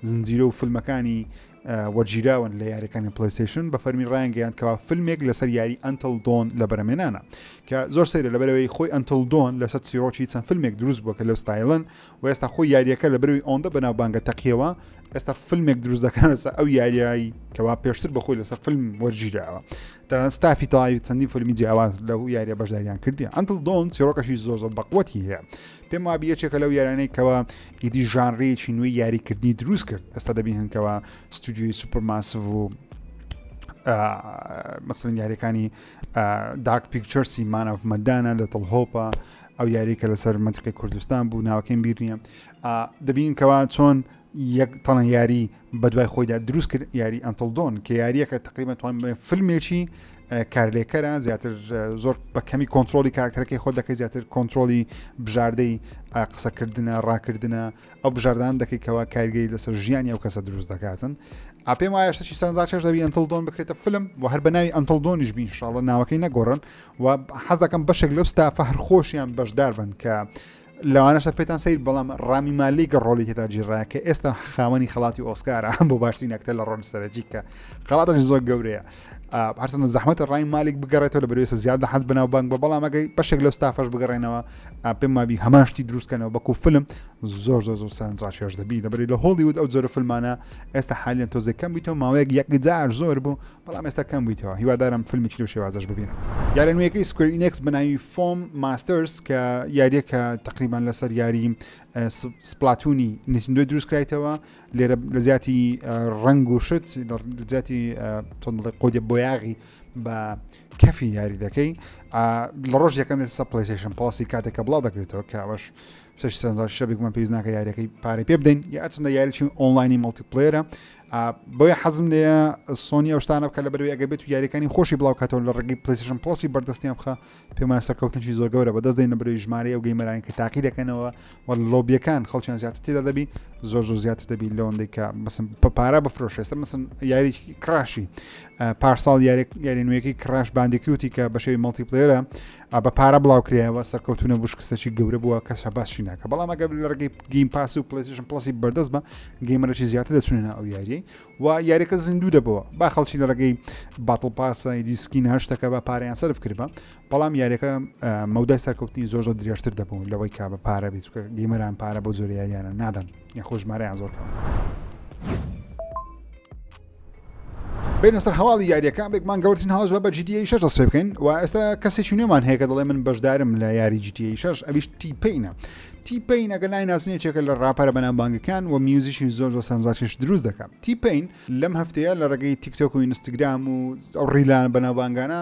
زنجیرە و فیلمەکانی وەرگیراون لە یاریەکانی پلیسیشن بە فەرمی ڕایانگەیان کەوا فیلمێک لەسەر یاری ئەتل دۆن لە بەرەمێنانە کە زۆر سەیرە لەبەرەوەی خۆی ئەتل دۆن لەسەر سیرۆکی چەند فیلمێک دروست بووە کە لەو ستایلن و ئێستا خۆی یاریەکە لە بەروی ئەوەندە بەناو بانگە تەقیەوە ئێستا فیلمێک دروست دەکەنەسە ئەو یاریایی کەوا پێشتر بەخۆی لەسەر فیلم وەرگیراوە تەنانەت ستافی تەواوی چەندین فیلمی جیاواز لەو یاریە بەشداریان کردی ئەنتل دۆن چیرۆکەشی زۆر زۆر بەقوەتی هەیە پێم وابی یەکێکە لەو یارانەی کەەوە ئیدی ژانڕێکی نوێی یاریکردنی دروست کرد ئێستا دەبین هەنکەوە ستودیوی سوپەرماسڤ و مەسلن یاریەکانی داک پیکچەرسی مانەف مەدانە لە تڵهۆپە ئەو یاریکە لەسەر منتقی کوردستان بوو ناوەکەیم بیر نییە دەبین کەوا چۆن یەک تەڵەن یاری بە دوای خۆیدا دروست کرد یاری ئەنتڵدۆن کە یاریەکە تقریبا توان فیلمێکی کارلێکەرە زیاتر زۆر بە کەمی کۆنتترۆلی کارکتەکەی خۆ دەکەی زیاتر کۆنتترۆلی بژاردەی قسەکردە ڕاکردە ئەو بژاردان دەکەیتەوە کارگەی لەسەر ژیانی ئەو کەسە دروست دەکاتن ئاپێم وایە شتێکی سەرنجاکەش دەبی ئەنتڵدۆن بکرێتە فلم و هەر بە ناوی ئەنتڵدۆنیش بین شاڵە ناوەکەی نەگۆڕن و حەز دەکەم بەشێک لەو ستافە هەر خۆشیان بەشدار بن کە لەوانەشە پێتان سیر بەڵام ڕامی مالیک ڕۆلی تێدا جیڕایە کە ئێستا خاوەنی خڵاتی ئۆسکارە بۆ باشترین ئەکتەر لە ڕۆن سەرەکی کە خڵاتەش زۆر گەورەیە هەرسەن زەحمەتە ڕای مالیک بگەڕێتەوە لە بەرێسە زیاد لە حەز بناو بانک بە بەڵامەکەی بەشێک لەو ستافەش بگەڕێنەوە پێم مابی هەماشتی دروستکەنەوە بەکو فلم زۆر زۆر زۆر سانجاشێش دەبی لەبەری لە هۆڵیود ئەو جۆرە فلمانە ئێستا حالیان تۆزێکەم بیتەوە ماوەیەک یەکجار زۆر بوو بەڵام ئێستا کەم بوویتەوە هیوادارم فیلمێکی لەو شێوازەش ببینم یارە نوێیەکەی سکوێر ئینێکس بە ناوی فۆم ماستەرز کە یاریەکە تقریبان لەسەر یاری سپلاتونی نسندوی دروست کرایتەوە لێرە لە زیاتی ڕنگ و شت زیاتی تۆندڵی قۆدە بۆیاغی بە کەفی یاری دەکەی لە ڕۆژ یەکەم سە پلیشن پڵسی کاتێکە بڵاو دەکرێتەوە کاوەش شەش سەنجار شەبێکمان پێویست ناکە یاریەکەی پارەی پێ بدەین یا ئەچندە یاریی ئۆنلاینی مڵتی پلێرە بۆیە حەزم لێە سۆنی ئەو شتانە بکە لە بەروی ئەگە بێت و یاریەکانی خۆشی بڵاوکاتەوە لە ڕگی پلیسیشن پڵسی بەردەستیان بخە پێما سەرکەوتنی زۆر گەورە بەدەست دەین بەروی ژمارە و گەیمەرانی کە تاقی دەکەنەوە و لۆبیەکان خەڵکیان زیاتر تێدا دەبی زۆر زۆر زیاتر دەبی لەوەندەی کە بسم پارا بفرۆشێستە مسن یاری کراشی پارساڵ یاری یاری نوێەکەی کراش باندێکیوتی کە بەشێوی مەڵتی پلێرە بە پارە بڵاو کرایەوە سەرکەوتو نەبوو شکستەی گەورە بووە کەس هەباسی ناکە بەڵام ئەگە لە ڕگەی گیم پاس و پلیسیشن پلسی بەردەست بە گەیمەرەی زیاتر دەچونێنە ئەو یاریی و یاریەکە زیندوو دەبەوە با خەڵکی لە ڕگەی باتڵ پاسە دیسکی ناشتەکە بە پاریان سرف کردبە بەڵام یاریەکە مەودای سەرکەوتنی زۆر زۆر درێژتر دەبوون لەوەی کا بە پارە بێت گەیمەران پارە بۆ زۆر یاریانە نادەن یاخۆشمارەیان زۆر کەم. بینە سەر هەواڵی یاریەکە بێک مانگە وەرزین هاوز بە جدی شش دەست پێ بکەین و ئێستا کەسێکی نوێمان هەیە کە دەڵێ من بەشدارم لە یاری جدی شش ئەویش تیپینە تیپین ئەگە لای نازنێکێکە لە ڕاپەرە بەنام بانگەکان و میوزیشی زۆر زۆر سەنجاکیش دروست دەکەم تیپین لەم هەفتەیە لە ڕێگەی تیکتۆک و ئینستاگرام و ئەو ڕیلان بەناوبانگانە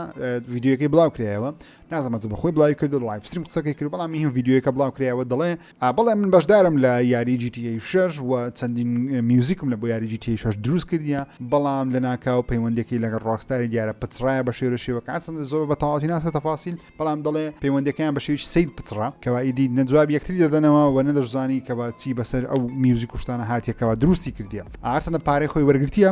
ڤیددیوەکەی بڵاو کرایەوە نازمەت بە خۆی بڵاوی کرد و لایف ستریم قسەکەی کرد بەڵام هیچ ڤیدیۆیەکە بڵاو کرایەوە دەڵێ بەڵێ من بەشدارم لە یاری GTA 6 و چەندین میوزیکم لە بۆ یاری GTA 6 دروست کردیە بەڵام لە ناکاو پەیوەندەکەی لەگەڵ ڕاکستاری دیارە پچڕایە بە شێوە شێوەکە چەند زۆر بە تەواوی ناسە تەفاسیل بەڵام دەڵێ پەیوەندەکەیان بە شێوی سیر پچڕا کەوایدی نەجواب یەکتری دەدەنەوە و نەدەشزانی کە باچی بەسەر ئەو میوزیک کوشتانە هاتیەکەەوە دروستی کردیە ئارسەنە پارەی خۆی وەرگرتیە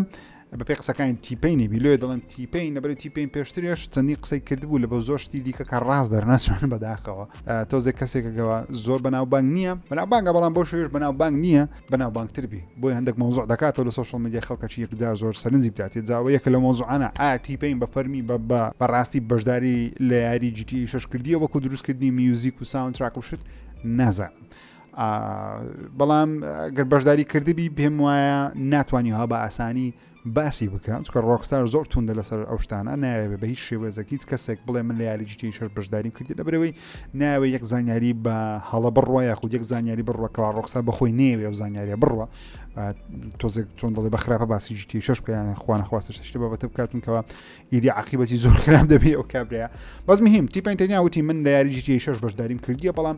بە پێی قسەکانی تیپینی بیلوێ دەڵێن تیپین لەبەر تیپین پێشترێش چەندی قسەی کردبوو لە بە زۆر شتی دیکە کە ڕاست دەرنەچوان بەداخەوە تۆزێک کەسێکەکەەوە زۆر بەناو بانگ نییە بەناو بانگە بەڵام بۆ شوێش بەناو بانگ نییە بەناو بانگتربی بۆی هەندێک مۆزۆع دەکاتەوە لە سوشل میدیا خەڵکەچی یەکدا زۆر سەرنجی بداتێ جاوە یەکە لە مۆزوعانە ئایا تیپین بە فەرمی بە بە بەڕاستی بەشداری لە یاری جیتی شش کردیە وەکو دروستکردنی میوزیک و ساونتراک و شت نازانم بەڵام گەر بەشداری کردبی پێم وایە ناتوانانی ها بە ئاسانی باسی بکە چکە ڕۆکستار زۆر توندە لەسەر ئەو شتانە ناوێت بە هیچ شێوەزەکیت کەسێک بڵێ من لە یاری جیتی شەر بەشداری کردی لە برەوەی ناوێت یەک زانیاری بە هەڵە بڕوە یاخود یەک زانیاری بڕوەکەوا ڕۆکستا بەخۆی نێوێ و زانیاریە بڕوە تۆزێک چۆن دەڵێ بە خراپە باسی جیتی شش بکەیان خوانە خواستە شتە بابەتە بکاتنکەوە ئیدی عقیبەتی زۆر خراپ دەبێ ئەو کابرەیە بەس مهم تیپین تەنیا وتی من لە یاری جیتی شش بەشداریم کردیە بەڵام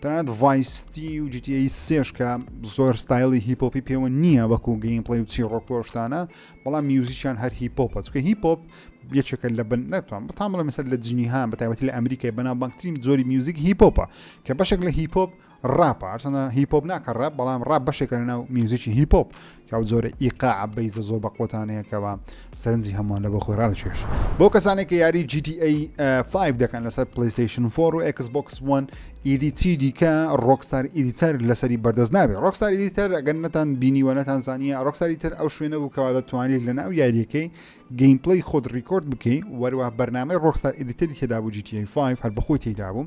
تەنانەت ڤایس سیتی و جی تی ئەی سێش کە زۆر ستایلی هیپ هۆپی پێوە نییە وەکو گەیم پڵەی و چیڕۆک و شتانە بەڵام میوزیکیان هەر هیپ هۆپە چونکە هیپ هۆپ یەکێکە لە بن ناتوان بەتان بڵێ مەسەر لە جنیهان بە تایبەتی لە ئەمریکای بەناوبانگترین جۆری میوزیک هیپ هۆپە کە بەشێک لە هیپ هۆپ ڕاپە هەرچەندە هیپ هۆپ ناکە ڕاپ بەڵام ڕاپ بەشێکە لە ناو میوزیکی هیپ هۆپ ئەو جۆرە ئیقاع بەیزە زۆر بە قۆتانەیە کەەوە سەرنجی هەمووان لە بۆ خۆی ڕاکێش بۆ کەسانێک کە یاری GTA 5 دەکەن لەسەر پلیستیشن فۆر و ئەکس بۆکس وان ئیدی چی دیکە ڕۆکستار ئیدیتەر لەسەری بەردەست نابێت ڕۆکستار ئیدیتەر ئەگەر نەتان بینیوە نەتان زانیە ڕۆکساری تر ئەو شوێنە بوو کەوا دەتوانیت لە ناو یاریەکەی گەیم پلی خۆت ڕیکۆرد بکەی وەروە بەرنامەی ڕۆکستار ئیدیتەری تێدا بوو GTA 5 هەر بەخۆی تێدا بوو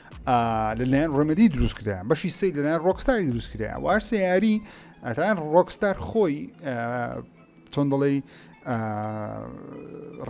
لەلایەن ڕمەدی دروست کرایان بەشی سی لەلایەن ڕۆکستاری دروست کرایە و هەر سیاری ئەتان ڕۆکستار خۆی چۆن دەڵێی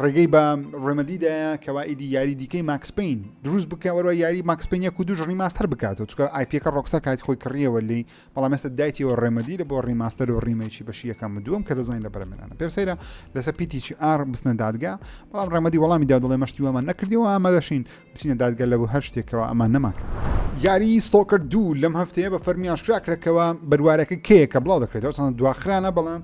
ڕێگەی بە ڕێمەدیدایە کەوا ئیدی یاری دیکەی ماکسپین دروست بکە وەروە یاری ماکسپینە کو دوژڕی ماستەر بکاتەوە چکە آیپەکە ڕۆکسە کاتی خۆی کڕیەوە لی بەڵام ئێستا دایتیەوە ڕێمەدی لە بۆ ڕیماستەر و ڕیمەیکی بەشی یەکەم و دووەم کە دەزانین لە بەرەمێنانە پێم سەیرە لەسەر پیتیی ئار بستنە دادگا بەڵام ڕێمەدی وەڵامی دا دەڵێ مەشتی وامان نەکردیەوە ئامادەشین بچینە دادگا لە بۆ هەر شتێکەوە ئەمان نەمان کرد یاری ستۆکرد دوو لەم هەفتەیە بە فەرمی ئاشکرا کرەکەوە بەروارەکە کەیە کە بڵاو دەکرێتەوە چەند دواخرانە بەڵام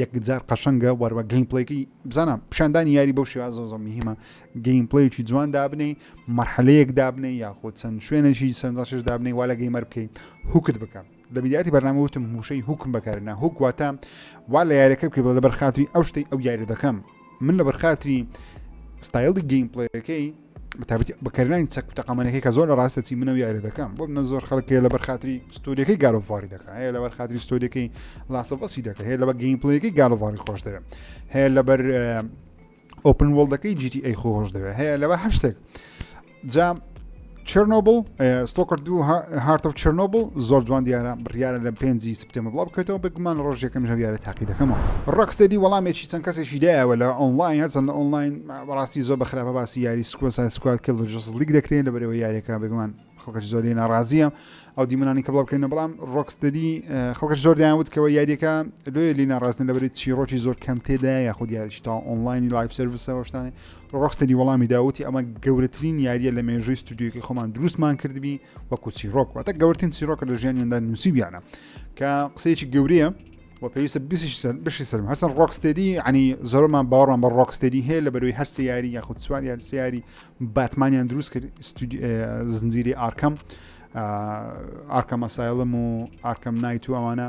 یەکجار قەشەنگە وەروە گەیمپلەیەکەی بزانە پیشاندانی یاری بەو شێوازە زۆر زۆر مهمە گەیمپلەیەکی جوان دابنێی مەرحەلەیەک دابنێی یاخۆ چەند شوێنێکی سەنجاشش دابنێی وا لە گەیمەر بکەی هوکت بکە لە بیدیاتی بەرنامە وتم موشەی هوکم بەکارنا هوک واتە وا لە یاریەکە بکەی بڵێ لەبەر خاتری ئەو شتەی ئەو یاری دەکەم من لە بەرخاتری ستایلی گەیمپلەکەی بەتابەتی بەکارنانی چەک تەقامەنەکەی کە زۆر لە ڕاستە چی منەوە یاری دەکەم بۆ منە زۆر خەڵکێ لە بەرخاتری ستۆریەکەی گالۆڤاری دەکە هەیە لە بەرخاتری ستۆریەکەی لاسەڤەسی دەکە هەیە لە بە گەیمپلەکەی گالۆڤاری خۆش دەوێت هەیە لەبەر ئۆپن وڵدەکەی جیتی ئەی خۆش دەوێت هەیە لەوە هەشتێک جا چرنۆبل ستۆکرد دوو هارتە و چرنۆبل زۆر جوان دیارە بڕیاە لە پێنجی سپتێمە بڵاو بکرێتەوە بگومان ڕۆژێکم ژەویارە تاقی دەکەمەوە ڕکسێدی وەڵامێکی چەند کەسێکی دایەوە لە ئۆنلاین هەرچەند لە ئۆنلاین بەڕاستی زۆر بە خراپە باسی یاری سکۆ سای سکوات کە لە جس لیک دەکرێن لەبەرەوە یاریەکە بگومان خەڵکەش زۆری ناڕازیە ئەو دیمەنانی کە بڵاو بکرێنە بەڵام ڕۆکستدی خەڵکە زۆر دایانوت کەەوە یاریەکە لێ لی ناڕاستن لەبەری چیرۆکی زۆر کەم تێدا یاخود یاریش تا ئۆنلاینی لایف سرویسەوە شتانێ ڕۆکستەدی وەڵامی دا وتی ئەمە گەورەترین یاریە لە مێژووی ستودیوکی خۆمان دروستمان کردبی وەکو چیرۆک واتە گەورتین چیرۆکە لە ژیانیاندا نووسیبیانە کە قسەیەکی گەورەیە و پێویستە بشی سەرم هەرسەر ڕۆکستێدی عنی زۆرمان باوەڕان بە ڕۆکستێدی هەیە لە بەروی هەر سیاری یاخود سوار یار سیاری باتمانیان دروست کرد زنجیری ئارکەم ئارکەمە سایڵم و ئارکەم نایت و ئەوانە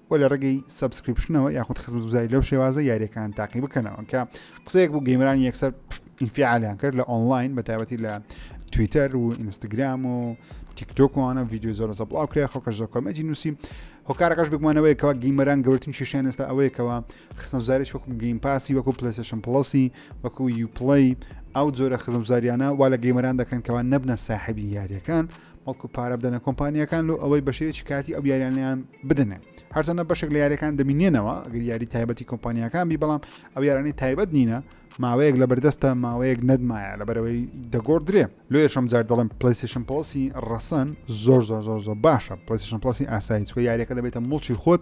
و لە ڕێگەی سەبسکریپشنەوە یاخود خزمەت گوزاری لەو شێوازە یاریەکان تاقی بکەنەوە کە قسەیەک بوو گەیمرانی یەکسەر ئینفعالیان کرد لە ئۆنلاین بە تایبەتی لە تویتەر و ئینستاگرام و تیکتۆکوانە ویددیو زۆر زە بڵاو کرێ خەڵکە زۆر کۆمەتی نووسی هۆکارەکەش بگومانەوەیکەوە گەیمەران گەورتن شیشیان ئێستا ئەوەیەکەوە خستنەزارش وەکو گەیم پاسی وەکو پلسشن پڵسی وەکو یوپڵی ئەو جۆرە خزمزاریانە وا لە گەیمەران دەکەن کەوا نەبنە ساحبی یاریەکان بەڵکو پارە بدەنە کۆمپانیەکان لۆ ئەوەی بەشێوەیەکی کاتی ئەو یاریانیان بدەنێ هەرچەندە بەشێک لە یاریەکان دەبینێنەوە گەر یاری تایبەتی کۆمپانیەکان بی بەڵام ئەو یارانی تایبەت نینە ماوەیەک لە بەردەستە ماوەیەک نەدمایە لە بەرەوەی دەگۆڕ درێ لۆ یشم جار دەڵم پلیسیشن پڵسی ڕەسەن زۆر زۆر زۆر زۆر باشە پلیسیشن پڵسی ئاسایی چکە یاریەکە دەبێتە مڵکی خۆت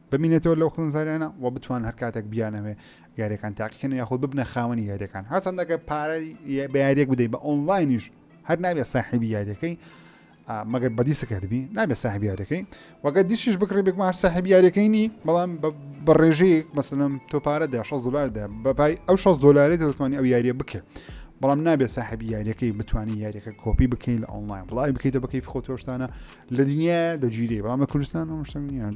بمینێتەوە لەو خوێنزاریانە و بتوان هەر کاتێک بیانەوێ یاریەکان تاقیکەن یاخود ببنە خاوەنی یاریەکان هەرچەندەکە پارە بە یاریەک بدەی بە ئۆنلاینیش هەر نابێت ساحبی یاریەکەی مەگەر بەدی سکردبی نابێت ساحبی یاریەکەی وەگە دیشیش بکڕی بێکمار ساحبی یاریەکەی نی بەڵام بە ڕێژەیە مەسلم تۆ پارە دە 6 دلاردا بەپای ئەو 6 دلاری دەتوانانی ئەو یاریە بکرد بەڵام نابێت ساحبی یاریەکەی بتانی یاریەکە کۆپی بکەین لە ئۆنلاین بڵی بکەیتە بەکەی خۆتۆشتانە لە دنیا دەگیری بەڵام لە کوردستان ئەو شتنیان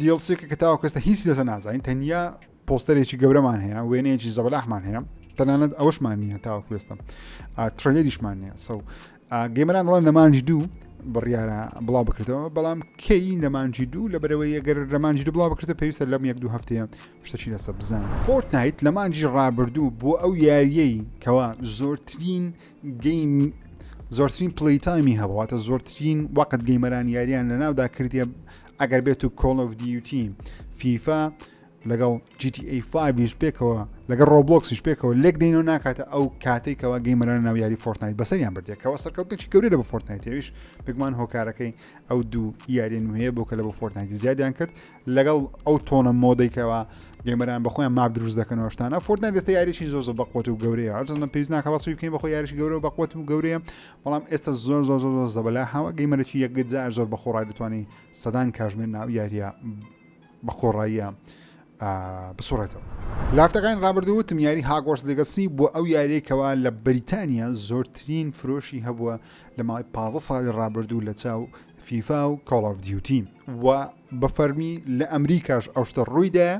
دیڵسێکە کە تاوەکە ئێستا هیچ لەسە نازانین تەنیا پۆستەرێکی گەورەمان هەیە وێنەیەکی زەبلاحمان هەیە تەنانەت ئەوشمان نییە تاوە کوێستم ترلەریشمان نییە سە گەمەران ڕۆن نەمانجی دوو بڕیارە بڵاو بکردەوە بەڵام کەی نەمانجی دوو لە بەرەوەی ئەگەر لەمانجی دوو بڵاو بکردە پێویستە لەم یەک دوو هەفتەیە شتەچی لەسە بزان فۆرتنایت لەمانجی ڕابردوو بۆ ئەو یاریەی کەوا زۆرترین گەیم زۆرترین پلی تایمی هەبوو واتە زۆرترین وەقت گەیمەران یاریان لە ناودا کردیە ئەگەر بێت و کۆڵ of دیوتی فیفا لەگەڵ GTA5 پێکەوە لەگەڵ ڕۆبلۆکسیش پێکەوە لێک دەینەوە ناکاتە ئەو کاتێکەوە گەیمەران ناو یاری فۆرتنایت بەسەریان بردێکەوە سەرکەوتێکی گەورە لە بە فۆرتنایتەویش بگومان هۆکارەکەی ئەو دوو یاریێن وەیە بۆ کە لە بە فۆرتنایتی زیادیان کرد لەگەڵ ئەو تۆنە مۆدەیکەوە گەمەران بەخۆیان ماب دروست دەکەن وشتان ئەفۆردن دەستە یاریشی زۆر زۆر بەقوت و گەورەیە هەرزانە پێویست ناکە بەسوی بکەین بەخۆ یاریش گەورە بەقوت و گەورەیە بەڵام ئێستا زۆر زۆر زۆر زۆر زەبلا هاوە گەیمەرەی یەکجار زۆر بەخۆڕای دەتوانانی سەدان کاژمێر ناو یاریە بەخۆڕاییە بسوڕێتەوە. لافتەکان ڕابردوو وتم یاری هاگۆرس لەگەسی بۆ ئەو یاریەکەوە لە بریتانیا زۆرترین فرۆشی هەبووە لە ماوەی 15 ساڵی ڕابردوو لە چاو فیفا و کۆڵاف دیوتی و بە فەرمی لە ئەمریکاش ئەو شتە ڕوویدایە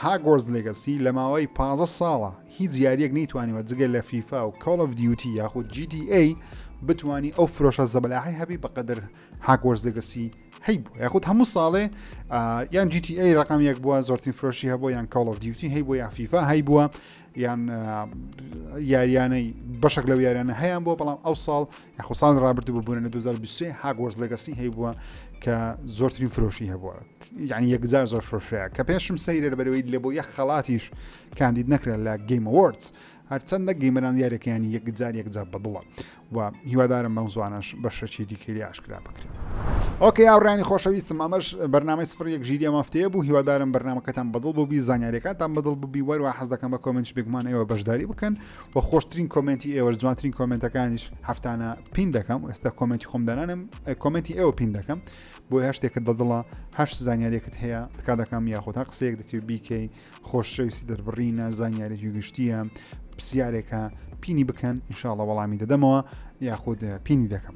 هاگۆرز لێگەسی لە ماوەی پازە ساڵە هیچ یاریەک نەیتوانیوە جگە لە فیفا و کۆڵ of دیوتی یاخود GTA بتانی ئەو فرۆشە زەبلاحی هەبی بەقدر هاگۆرز لێگەسی هەی بوو یاخود هەموو ساڵێ یان GTA ڕقام یەک بووە زۆرترین فرۆشی هەبوو یان کۆڵ of دیوتی هەی بۆ یافیفا هەی بووە یان یاریانەی بەشک لەو یاریانە هەیان بۆ بەڵام ئەو ساڵ یاخۆ ساڵی ڕابردوو بە بوونە لە 2023 هاگوەرز لەگەسی هەیبووە کە زۆرترین فرۆشی هەبووە یعنی یەکجار زۆر فرۆشەیە کە پێشم سەیرە بەرەوەی لە بۆ یە خەڵاتیش کاندید نەکرا لە گەیمەوەرز هەرچەندە گەیمەران یارەکەیانی یەکجار یەکجار بەدڵە و هیوادارم بەم زوانش بە شەچی دیکەری ئاشکرا بکرێت. ئۆکە یاڕانی خۆشەویستم ئەمەش بەرنامەی سفر یەک ژیری مافتەیە بوو هیوادارم بەرنمەکەتان بەدڵ بووبی زانانیارەکانتان بەدڵ ببی وەروە حەز دەکەم بە کۆمنتش بگومان ئێوە بەشداری بکەن بە خۆشترین کۆمنتی ئێوە جوانترین کۆمنتەکانیش هەفتانە پین دەکەم ئێستا کۆمنتی خۆم دەنانم کۆمنتی ئێوە پین دەکەم بۆ هەشتێکت بەدڵە هەش زانیارێکت هەیە تکا دەکەم یاخۆتا قسەیەک دەتێ بیکەی خۆشەویستی دەربڕینە زانیارێکی گشتیە پرسیارێکە پینی بکەن انشاءڵە وەڵامی دەدەمەوە یاخود پینی دەکەم